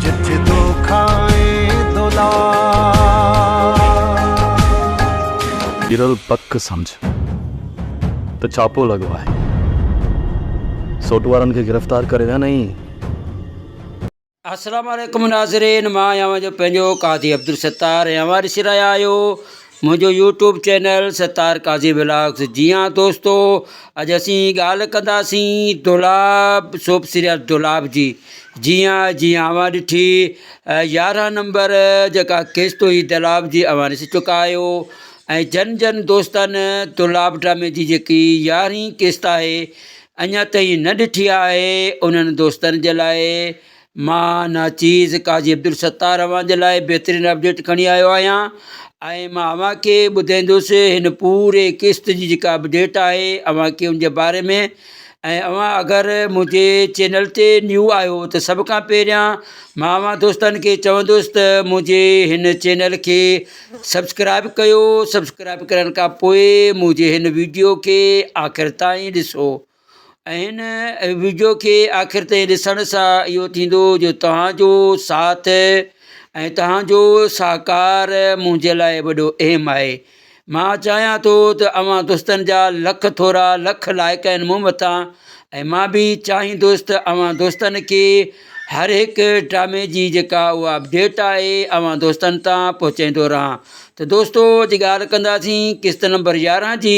جت دوکا ۽ دولار. ڳرل پڪ سمجهه ته ڇاپو لڳو آهي. سوٽ وارن کي گرفتار ڪري ويا نئين. السلام عليڪم ناظرين مان آهيان اوهان جو پنهنجو قاضي عبدالستار ۽ اوهان ڏسي رهيا آهيو منهنجو YouTube channel Sattar Qazi vlogs جي هان دوستو اڄ اسين ڳالهه ڪنداسين دولاب سوپ سيريل دولاب جي جي ها جي ها اوهان ڏٺي يارهن نمبر جيڪا قسط هئي دولاب جي اوهان ڏسي چڪا آهيو ۽ جن جن دوستن دولاب ڊرامي جي جيڪي يارهين قسط آهي اڃا تائين نه ڏٺي آهي انهن دوستن جي لاء مان ناچيز قاضي عبدالستار اوهان جي لاء بهترين اپڊيٽ کڻي آيو آهيان ۽ مان اوهان کي ٻڌائيندس هن پوري قسط جي جيڪا اپڊيٽ آهي اوهان کي ان جي باري ۾ ۽ اوهان اگر منهنجي چينل تي نيو آهيو ته سڀ کان پهريان مان اوهان دوستن کي چوندس ته منهنجي هن چينل کي سبسڪرائب ڪيو سبسڪرائب ڪرڻ کان پوء منهنجي هن ويڊيو کي آخر تائين ڏسو ۽ هن وڊيو کي آخر تائين ڏسڻ سان اهو ٿيندو جو توهان جو ساٿ ۽ توهان جو سهڪار منهنجي لاء وڏو اهم آهي مان چاهيان ٿو ته اوهان دوستن جا لک ٿورا لک لائق آهن مون مٿان ۽ مان به چاهيندوس ته اوهان دوستن کي هر هڪ ڊرامي جي جيڪا اها اپڊيٽ آهي اوهان دوستن تان پهچائيندو رهان ته دوستو اڄ ڳالهه ڪنداسين قسط نمبر يارهن جي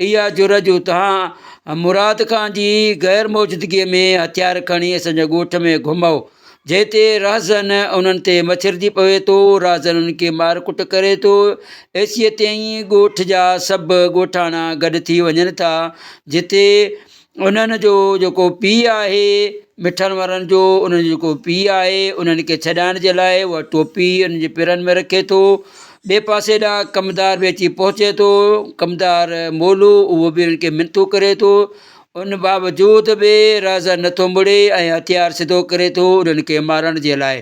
اها جرئت جو توهان مراد خان جي غير موجودگيء ۾ هٿيار کڻي اسان جي ڳوٺ ۾ گهمئو، جنهن تي رهزن انهن تي مڇرجي پوي ٿو، رهزن انهن کي مار ڪٽ ڪري ٿو، ايسيء تي ئي ڳوٺ جا سڀ ڳوٺاڻا گڏ ٿي وڃن ٿا، جتي انهن جو جيڪو پيء آهي مٺن وارن جو انهن جو جيڪو پيء آهي انهن کي ڇڏائڻ جي لاء هو ٽوپي انهن جي پيرن ۾ رکي ٿو ٻئي پاسي ڏانهن ڪمدار به اچي پهچي ٿو ڪمدار مولو اهو به انهن کي منٿون ڪري ٿو ان باوجود به راجا نٿو مڙي ۽ هٿيار سڌو ڪري ٿو انهن کي مارڻ جي لاء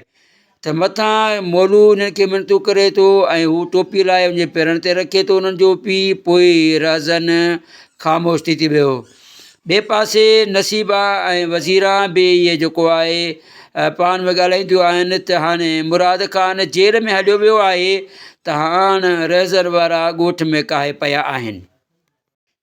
ته مٿان مولو انهن کي منٿون ڪري ٿو ۽ هو ٽوپي لاهي ان جي پيرن تي رکي ٿو انهن جو پيء پوء رهزن خاموش ٿي ٿي ويو. ٻئي پاسي نصيبا ۽ وزيرا به اهي جيڪو آهي پاڻ ۾ ڳالهائينديون آهن ته هاڻي مراد خان جيل ۾ هليو ويو آهي ته هاڻ رهزن وارا ڳوٺ ۾ ڪاهي پيا آهن.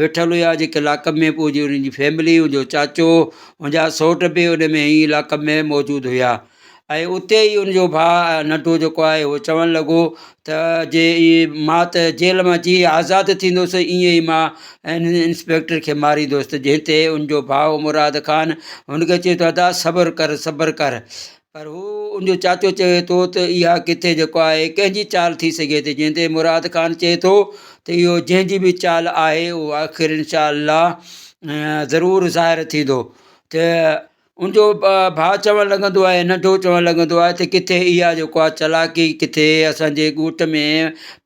ويٺل هيا جيڪي لاڪ اپ ۾ پوء جي انهن جي فيملي ان جو چاچو ان جا سوٽ به ان ۾ ئي لاڪ اپ ۾ موجود هيا ۽ اتي ئي ان جو ڀاء ننڍو جيڪو آهي هو چوڻ لڳو ته جي اي ماء ته جيل مان جي آزاد ٿيندوس ائين ئي ماء ان انسپيڪٽر کي ماريندوس ته جنهن تي ان جو ڀاء مراد خان هن کي چيو ته ادا صبر ڪر صبر ڪر پر هو ان جو چاچو چوي ٿو ته اها ڪٿي جيڪو آهي ڪنهن جي چال ٿي سگهي ٿي جنهن تي مراد خان چئي ٿو ته اهو جنهن جي به چال آهي اهو آخر انشاء الله ضرور ظاهر ٿيندو ته ان جو ڀاء چوڻ لڳندو آهي ننڍو چوڻ لڳندو آهي ته ڪٿي اها جيڪو آهي چالاڪي ڪٿي اسانجي ڳوٺ ۾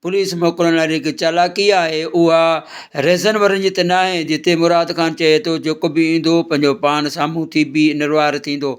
پوليس موڪلڻ لاء جيڪي چالاڪي آهي اها ريزن وارن جي ته ناهي جتي مراد خان چئي ٿو جيڪو به ايندو پنهنجو پاڻ سامهون ٿي بيهه نروار ٿيندو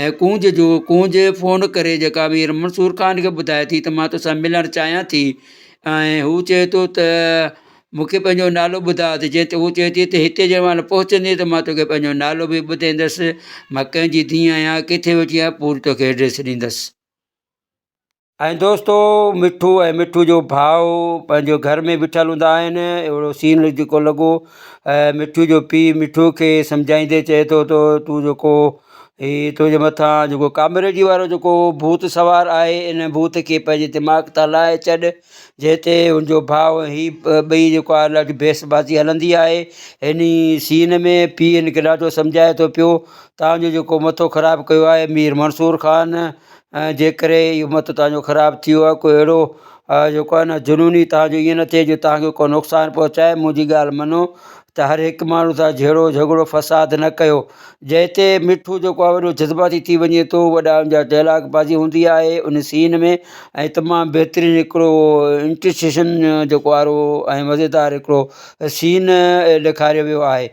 اي ڪونج جو ڪونج فون ڪري جيڪا مير منصور خان کي ٻڌائي ٿي ته مان توسان ملڻ چاهيان ٿي ۽ هو چئي ٿو ته مونکي پنهنجو نالو ٻڌاء ته جنهن تي هو چئي ٿي ته هتي جنهن مهل پهچندي ته مان توکي پنهنجو نالو به ٻڌيندس مان ڪنهن جي ڌيء آهيان ڪٿي ويٺي آهيان پوري توکي ايڊريس ڏيندس ۽ دوستو مٺو ۽ مٺو جو ڀاء پنهنجو گهر ۾ بيٺل هوندا آهن اهڙو سين جيڪو لڳو مٺو جو پي مٺو کي سمجهائيندي چئي ٿو تو تون جيڪو هي تنهنجي مٿان جيڪو ڪامريڊي وارو جيڪو ڀوت سوار آهي ان ڀوت کي پنهنجي دماغ تان لاهي ڇڏ جنهن تي ان جو ڀاء هي ٻئي جيڪو آهي ڏاڍي بحث بازي هلندي آهي ان سين ۾ پي ان کي ڏاڍو سمجهائي ٿو پيو تانجو جيڪو مٿو خراب ڪيو آهي مير منصور خان ۽ جنهن ڪري اهو مت توهان جو خراب ٿي ويو آهي ڪو اهڙو جيڪو آهي نه جنوني توهان جو ائين نه ٿئي جو توهان کي ڪو نقصان پهچائي منهنجي ڳالهه مڃو ته هر هڪ ماڻهو سان جهيڙو جهڳڙو فساد نه ڪيو جنهن تي مٺو جيڪو آهي وڏو جذباتي ٿي وڃي ٿو وڏا ان جا ڊائلاگ بازي هوندي آهي ان سين ۾ ۽ تمام بهترين هڪڙو انٽرسيشن جيڪو آرو ۽ مزيدار هڪڙو سين ڏيکاريو ويو آهي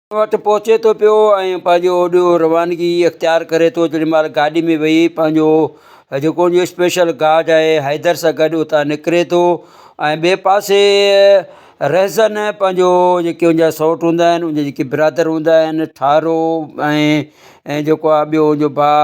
وٽ پهچي ٿو پيو ۽ پنهنجو اوڏيو روانگي اختيار ڪري ٿو جيڏي مهل گاڏي ۾ ويهي پنهنجو جيڪو ان جو اسپيشل گارڊ آهي حيدر سان گڏ اتان نڪري ٿو ۽ ٻئي پاسي رهزن پنهنجو جيڪي ان جا سئوٽ هوندا آهن ان جا جيڪي برادر هوندا آهن ٺارو ۽ جيڪو آهي ٻيو ان جو ڀاء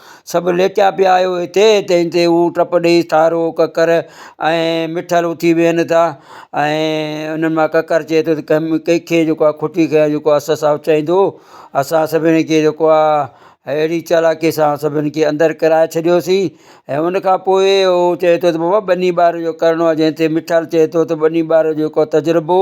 سڀ ليٽيا پيا آهيو هتي، تنهن تي هو ٽپ ڏيئي ٿارو، ڪڪر ۽ مٺل اٿي ويهن ٿا ۽ انهن مان ڪڪر چئي ٿو ته ڪنهن ڪنهن کي جيڪو آهي کوٽي کي آهي جيڪو اسد صاحب چئيندو اسان سڀني کي جيڪو آهي اهڙي چالاڪي سان سڀني کي اندر ڪرائي ڇڏيوسين ۽ ان کان پوء هو چئي ٿو ته بابا ٻني ٻار جو ڪرڻو آهي جنهن تي مٺل چئي ٿو ته ٻني ٻار جو ڪو تجربو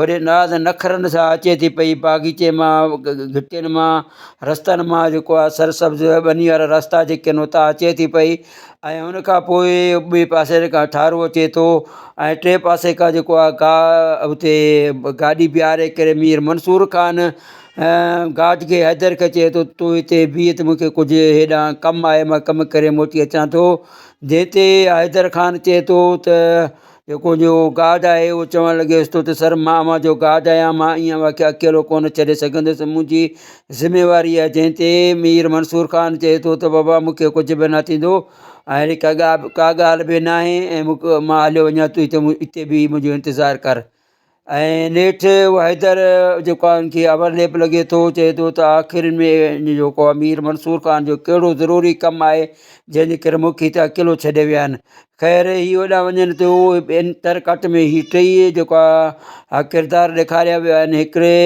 وڏي ناز ۽ نخرن سان اچي ٿي پئي باغيچي مان گهٽين مان رستن مان جيڪو آ سر سبز ٻني وارا رستا جيڪي آهن اتان اچي ٿي پئي ۽ ان کان پوء ٻئي پاسي کان ٺارو اچي ٿو ۽ ٽي پاسي کان جيڪو آ گاهه اتي گاڏي بيهاري ڪري مير منصور خان گاج کي حيدر کي چئي ٿو تون هتي بيهه ته مون کي ڪجهه هيڏانهن ڪم آهي مان ڪم ڪري موٽي اچان ٿو جنهن تي حيدر خان چئي ٿو ته جيڪو جو گاد آهي اهو چوڻ لڳيس تو ته سر مان اوهان جو گاد آهيان مان ايئن اوهان کي اڪيلو ڪونه ڇڏي سگهندس منهنجي ذميواري آهي جنهن تي مير منصور خان چئي ٿو ته بابا مونکي ڪجهه به نه ٿيندو ۽ اهڙي ڪا ڳا ڪا ڳالهه به ناهي ۽ مون مان هليو وڃان تون هتي مون هتي بيهه منهنجو انتظار ڪر ۽ نيٺ اهو حيدر جيڪو آهي ان کي اوور ليپ لڳي ٿو چئي ٿو ته آخر ۾ ان جو جيڪو آهي مير منصور خان جو ڪهڙو ضروري ڪم آهي جنهن جي ڪري مون کي هتي اڪيلو ڇڏي ويا آهن خير هي هوڏانهن وڃن ٿيو ٻين تر ڪٽ ۾ هي ٽيئي جيڪو آهي ڪردار ڏيکاريا ويا آهن هڪڙي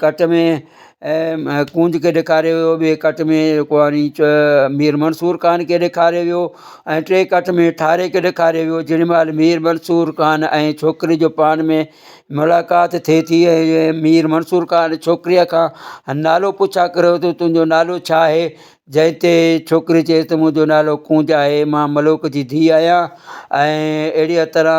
ڪٽ ۾ ڪونج کي ڏيکاريو ويو ٻئي ڪٽ ۾ جيڪو آهي ني چ مير منصور خان کي ڏيکاريو ويو ۽ ٽئي ڪٽ ۾ ٺاري کي ڏيکاريو ويو جنهن مهل مير منصور خان ۽ ڇوڪري جو پاڻ ۾ ملاقات ٿئي ٿي ۽ مير منصور خان ڇوڪريء کان نالو پڇا ڪريو ٿو تنهنجو نالو ڇا آهي جنهن تي ڇوڪري چئي ته منهنجو نالو ڪونج آهي مان ملوڪ جي ڌيء آهيان ۽ اهڙيء طرح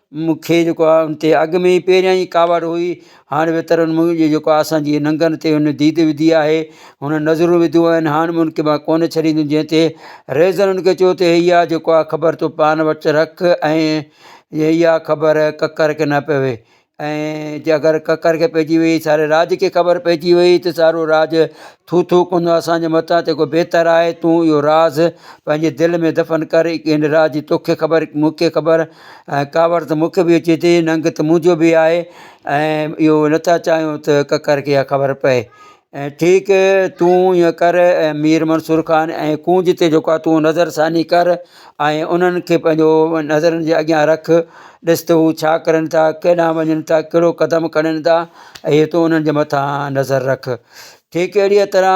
مونکي جيڪو آ ان تي اڳ ۾ ئي پهريان ئي ڪاوڙ هئي هاڻي به ترن مون جي جيڪو آ اسان جي ننگن تي هن ديد وڌي آهي هن نظرون وڌيون آهن هاڻ مون کي مان ڪونه ڇڏيندم جنهن تي ريزن ان کي چيو ته هي آ جيڪو آ خبر تو پان وٽ رک ۽ هي آ خبر ڪڪر کي نه پوي ۽ جي اگر ڪڪر کي پئجي وئي ساري راڄ کي خبر پئجي وئي ته سارو راڄ ٿو ٿو ڪندو اسان جي متان ته بهتر آهي تون اهو راز پنهنجي دل ۾ دفن ڪر ان راڄ جي توکي خبر مونکي خبر ۽ ڪاوڙ ته مون کي به اچي ٿي ننگ ته منهنجو به آهي ۽ اهو نٿا چاهيون ته ڪڪر کي اها خبر پئي ۽ ٺيڪ تون ايئن ڪر ۽ مير منصور خان ۽ ڪونج تي جيڪو آهي تون نظر ثاني ڪر ۽ انهن کي پنهنجو نظرن جي اڳيان رک ڏس ته هو ڇا ڪرن ٿا ڪيڏانهن وڃن ٿا ڪهڙو قدم کڻن ٿا اهي تون انهن جي مٿان نظر رک ٺيڪ اهڙيء طرح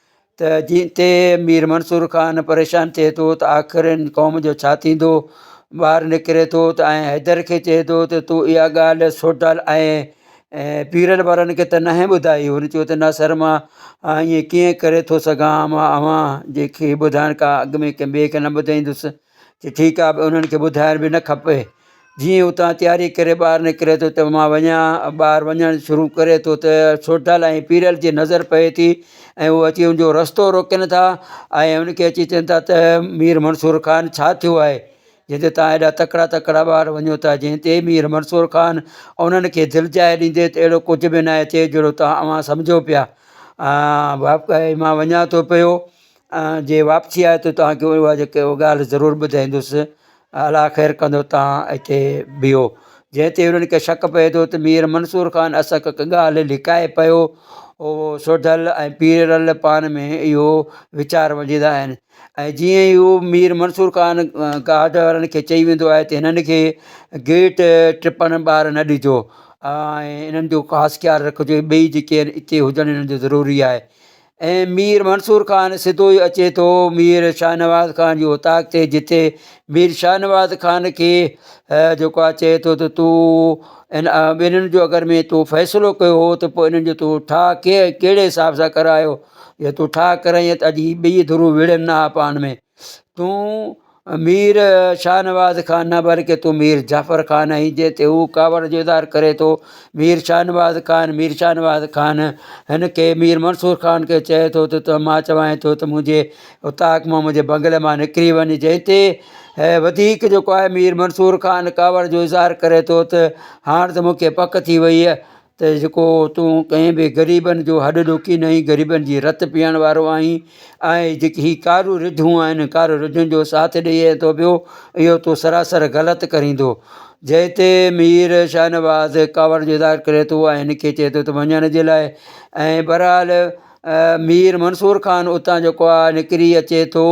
ته جنهن تي مير منصور خان پريشان ٿئي ٿو ته آخر هن قوم جو ڇا ٿيندو؟ ٻاهر نڪري ٿو ته ۽ حيدر کي چئي ٿو ته تو اها ڳالهه سوڍل ۽ پيرل وارن کي ته ناهي ٻڌائي؟ هن چيو ته نه سر مان ائين ڪيئن ڪري ٿو سگهان مان اوهان جي کي ٻڌائڻ کان اڳ ۾ ڪنهن ٻئي کي نه ٻڌائيندس. چٺي ڪا به انهن کي ٻڌائڻ به نه کپي. جيئن ئي اتان تياري ڪري ٻاهر نڪري ٿو ته مان وڃان، ٻاهر وڃڻ شروع ڪري ٿو ته سوڍل ۽ پيرل جي نظر پئي ٿي ۽ هو اچي ان جو رستو روڪين ٿا ۽ ان کي اچي چون ٿا ته مير منصور خان ڇا ٿيو آهي جنهن تي توهان ايڏا تڪڙا تڪڙا ٻار وڃو ٿا جنهن تي مير منصور خان انهن کي دلجاء ڏيندي ته اهڙو ڪجهه به ناهي ٿيو جهڙو توهان اوهان سمجهو پيا مان وڃان ٿو پيو. جي واپسي آئي ته توهان کي اها جيڪي اها ڳالهه ضرور ٻڌائيندس الا خير ڪندو توهان هتي بيهو جنهن تي انهن کي شڪ پئي ٿو ته مير منصور خان اسان کي ڪا ڳالهه لڪائي پيو هو سوڍل ۽ پيرل پان ۾ اهو ويچار وجهندا آهن ۽ جيئن ئي هو مير منصور خان گارڊ وارن کي چئي ويندو آهي ته هنن کي گيٽ ٽپڻ ٻار نه ڏجو ۽ انهن جو خاص خيال رکجو ٻئي جيڪي آهن اتي هجڻ انهن جو ضروري آهي ۽ مير منصور خان سڌو ئي اچي ٿو مير شاهنواز خان جي اوطاق تي جتي مير شاهنواز خان کي جيڪو آ چي ٿو ته تون ائن ٻنهي جو اگر مين تو فيصلو ڪيو هو ته پوء انهن جو تو ٺاهه ڪي ڪهڙي حساب سان ڪرايو ته تو ٺاهه ڪرائين ته اڄ هي ٻئي ڌرون وڙهن نه ها پاڻ مين تون مير شاهنواز کان نه بلڪه تون مير جعفر خان آهين جنهن تي هو ڪاوڙ جو اظهار ڪري ٿو. مير شاهنواز خان، مير شاهنواز خان، هن کي مير منصور خان کي چئي ٿو ته ته مان چوانء ٿو ته منهنجي اتاق مان منهنجي بنگلي مان نڪري وڃ جنهن تي وڌيڪ جيڪو آهي مير منصور خان ڪاوڙ جو اظهار ڪري ٿو ته هاڻ ته مون کي پڪ ٿي وئي ته جيڪو تون ڪنهن به غريبن جو هڏ ڏوڪي نه آهين غريبن جي رت پيئڻ وارو آهين آهي جيڪي هي ڪارو رڌون آهن ڪارو رڌن جو ساٿ ڏئي ائين ٿو پيو اهو تو سراسر غلط ڪريندو جنهن تي مير شاهنواز ڪاوڙ جو اظهار ڪري ٿو ۽ هن کي چئي ٿو ته وڃڻ جي لاء ۽ بهرحال مير منصور خان اتان جيڪو آهي نڪري اچي ٿو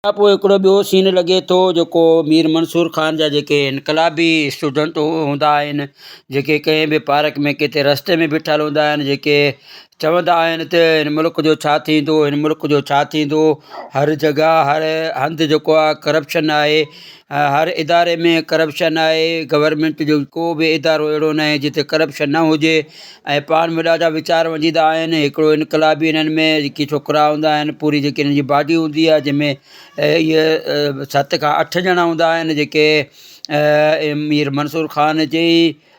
ان کان پوء هڪڙو ٻيو سين لڳي ٿو جيڪو مير منصور خان جا جيڪي انقلابي اسٽوڊنٽ هوندا آهن جيڪي ڪنهن به پارڪ ۾ ڪٿي رستي ۾ بيٺل هوندا آهن جيڪي چوندا آهن ته هن ملڪ جو ڇا ٿيندو هن ملڪ جو ڇا ٿيندو هر جڳهه هر هنڌ جيڪو آهي ڪرپشن آهي هر اداري ۾ ڪرپشن آهي گورمينٽ جو ڪو به ادارو اهڙو نه آهي جتي ڪرپشن نه هجي ۽ پاڻ بھ ڏاڍا ويچار وجيدا آهن هڪڙو انقلابي انهن ۾ جيڪي ڇوڪرا هوندا آهن پوري جيڪي انهن جي باڊي هوندي آهي جنهن ۾ ست کان اٺ ڄڻا هوندا آهن جيڪي مير منصور خان جي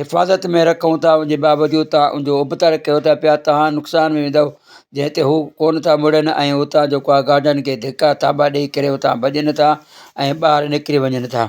حفاظت ۾ رکون ٿا ان جي باوجود توهان ان جو ابتڙ ڪيو ٿا پيا توهان نقصان ۾ ويندؤ جنهن تي هو ڪونه ٿا مڙن ۽ اتان جيڪو آهي گارڊن کي ڌڪا ٿاٻا ڏيئي ڪري اتان ڀڄن ٿا ۽ ٻاهر نڪري وڃن ٿا.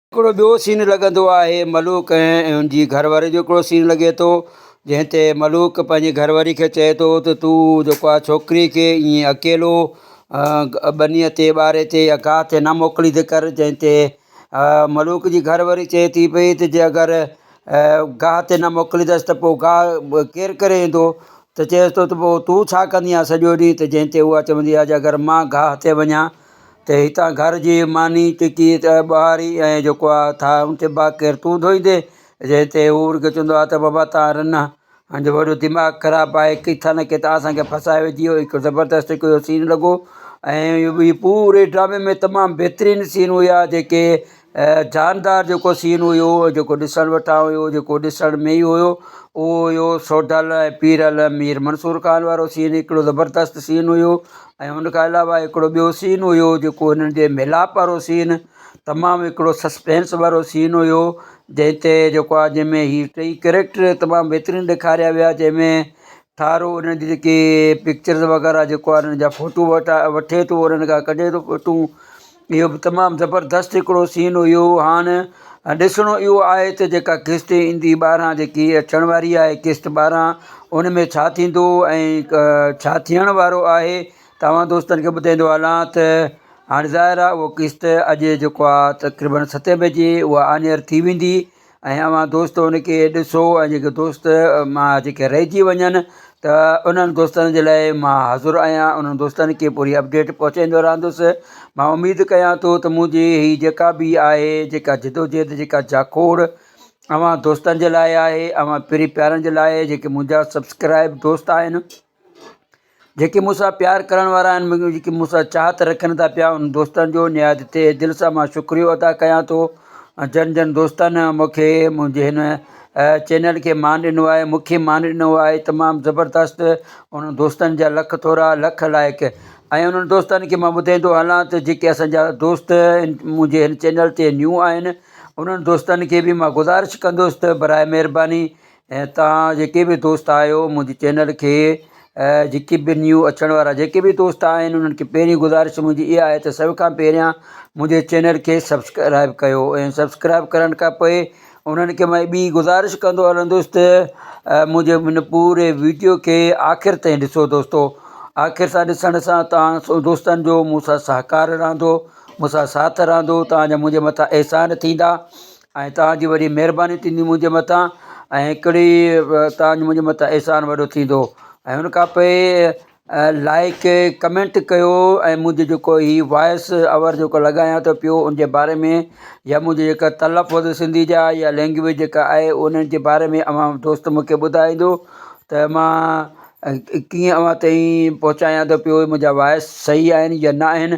هڪڙو ٻيو سين لڳندو آهي ملوڪ ۽ ان جي گهرواري جو هڪڙو سين لڳي ٿو جنهن تي ملوڪ پنهنجي گهرواري کي چئي ٿو ته تون جيڪو آ ڇوڪري کي ائين اڪيلو ٻنيء تي ٻاري تي يا گاهه تي نه موڪليندي ڪر جنهن تي ملوڪ جي گهرواري چئي ٿي پئي ته جي اگر گاهه تي نه موڪليندس ته پوء گاهه ڪير ڪري ايندو ته چئيس ٿو ته پوء تون ڇا ڪندينء سڄو ڏينهن ته جنهن تي اها چوندي آهي ته اگر مان گاهه تي وڃان ته هتان گهر جي ماني ٽڪي ته ٻهاري ۽ جيڪو آ ٿاهه اونچي باغ ڪير تون ڌوئيندي؟ جنهن تي هو ان کي چوندو آ ته بابا تان رنه جو وڏو دماغ خراب آهي ڪٿان نه ڪٿان اسان کي ڦاسائي وجهي اهو هڪ زبردست هڪ اهو سين لڳو ۽ هي پوري ڊرامي ۾ تمام بهترين سين هيا جيڪي جاندار جيڪو سين هيو جيڪو ڏسڻ وٽان هيو جيڪو ڏسڻ ۾ ئي هيو اهو هيو سوڍل ۽ پيرل مير منصور خان وارو سين هڪڙو زبردست سين هيو ۽ ان کان علاوه هڪڙو ٻيو سين هيو جيڪو هنن جي ميلاپ وارو سين تمام هڪڙو سسپينس وارو سين هيو جنهن تي جيڪو آ جنهن ۾ هي ٽئي ڪريڪٽر تمام بهترين ڏيکاريا ويا جنهن ۾ ٺارو هنن جي جيڪي پڪچرز وغيره جيڪو آ هنن جا ڦوٽو وٺا وٺي ٿو انهن کان ڪڍي ٿو ڦوٽو اهو به تمام زبردست هڪڙو سين هيو هاڻ ڏسڻو اهو آهي ته جيڪا قسط ايندي ٻاهران جيڪي اچڻ واري آهي قسط ٻاهران ان ۾ ڇا ٿيندو ۽ ڇا ٿيڻ وارو آهي توهان دوستن کي ٻڌائيندو هلان ته هاڻ ظاهر آهي اهو قسط اڄ جيڪو آهي تقريبن ستين بجي اهو آنيئر ٿي ويندي ۽ اوهان دوست ان کي ڏسو ۽ جيڪي دوست ما جيڪي رهجي وڃن ته انهن دوستن جي لاء مان حاضر آهيان انهن دوستن کي پوري اپڊيٽ پهچائيندو رهندس مان اميد ڪيان ٿو ته منهنجي هي جيڪا به آهي جيڪا جدوجهد جيڪا جاکوڙ اوهان دوستن جي لاء آهي اوهان پري پيارن جي لاء جيڪي منهنجا سبسڪرائب دوست آهن جيڪي مون سان پيار ڪرڻ وارا آهن ۽ جيڪي مون سان چاهت رکن ٿا پيا انهن دوستن جو نهايت تهه دل سان مان شڪريو ادا ڪيان ٿو جن جن دوستن مون کي منهنجي هن چينل کي مان ڏنو آهي مون کي مان ڏنو آهي تمام زبردست انهن دوستن جا لک ٿورا لک لائق ۽ انهن دوستن کي مان ٻڌائيندو هلان ته جيڪي اسان جا دوست منهنجي هن چينل تي نيو آهن انهن دوستن کي به مان گذارش ڪندس ته برائي مهرباني ۽ تهان جيڪي به دوست آهيو منهنجي چينل کي جيڪي به نيو اچڻ وارا جيڪي به دوست آهن انهن کي پهرين گذارش منهنجي اها آهي ته سڀ کان پهريان منهنجي چينل کي سبسڪرائب ڪيو ۽ سبسڪرائب ڪرڻ کان پوء انهن کي مئي ٻي گذارش ڪندو هلندس ته منهنجي هن پوري ويڊيو کي آخر تائين ڏسو دوستو آخر سان ڏسڻ سان تهان سو دوستن جو مون سان سهڪار رهندو مون سان ساٿ رهندو تهان جا منهنجي مٿان احسان ٿيندا ۽ توهان جي وڏي مهرباني ٿيندي منهنجي مٿان ۽ هڪڙي توهان جو منهنجي مٿان احسان وڏو ٿيندو ۽ هن کان پوء لائق ڪمينٽ ڪيو ۽ منهنجي جيڪو هي وائس اوور جيڪو لڳايان ٿو پيو ان جي باري ۾ يا منهنجي جيڪا تلفظ سنڌي جا يا لينگويج جيڪا آهي ان جي باري ۾ اوهان دوست مونکي ٻڌائيندو ته مان ڪيئن اوهان تائين پهچايان ٿو پيو منهنجا وائس سهي آهن يا ناهن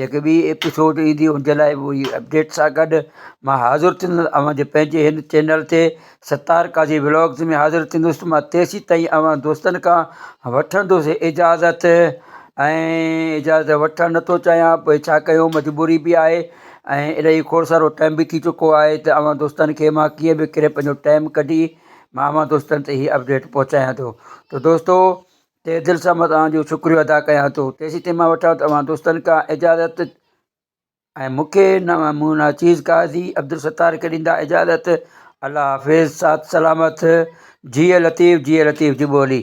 جيڪي ٻي ايپيسوڊ ايندي ان جي لاء اهي اپڊيٽ سان گڏ مان حاضر ٿيندس اوهان جي پنهنجي هن چينل تي ستار قاضي ولاگز ۾ حاضر ٿيندس مان تيسين تائين اوهان دوستن کان وٺندس اجازت ۽ اجازت وٺڻ نٿو چاهيان پوء ڇا ڪيون مجبوري به آهي ۽ الائي کوڙ سارو ٽائيم به ٿي چڪو آهي ته اوهان دوستن کي مان ڪيئن به ڪري پنهنجو ٽائيم ڪڍي مان اوهان دوستن تي هي اپڊيٽ پهچايان ٿو ته دوستو تهه دل سان مان توهان جو شڪريو ادا ڪيان ٿو تيسيتائين مان وٺان توهان دوستن کان اجازت ۽ مون کي نه مون ناچيز قاضي عبدالستار کي ڏيندا اجازت الله حافظ سات سلامت جيء لطيف جيء لطيف جي ٻولي.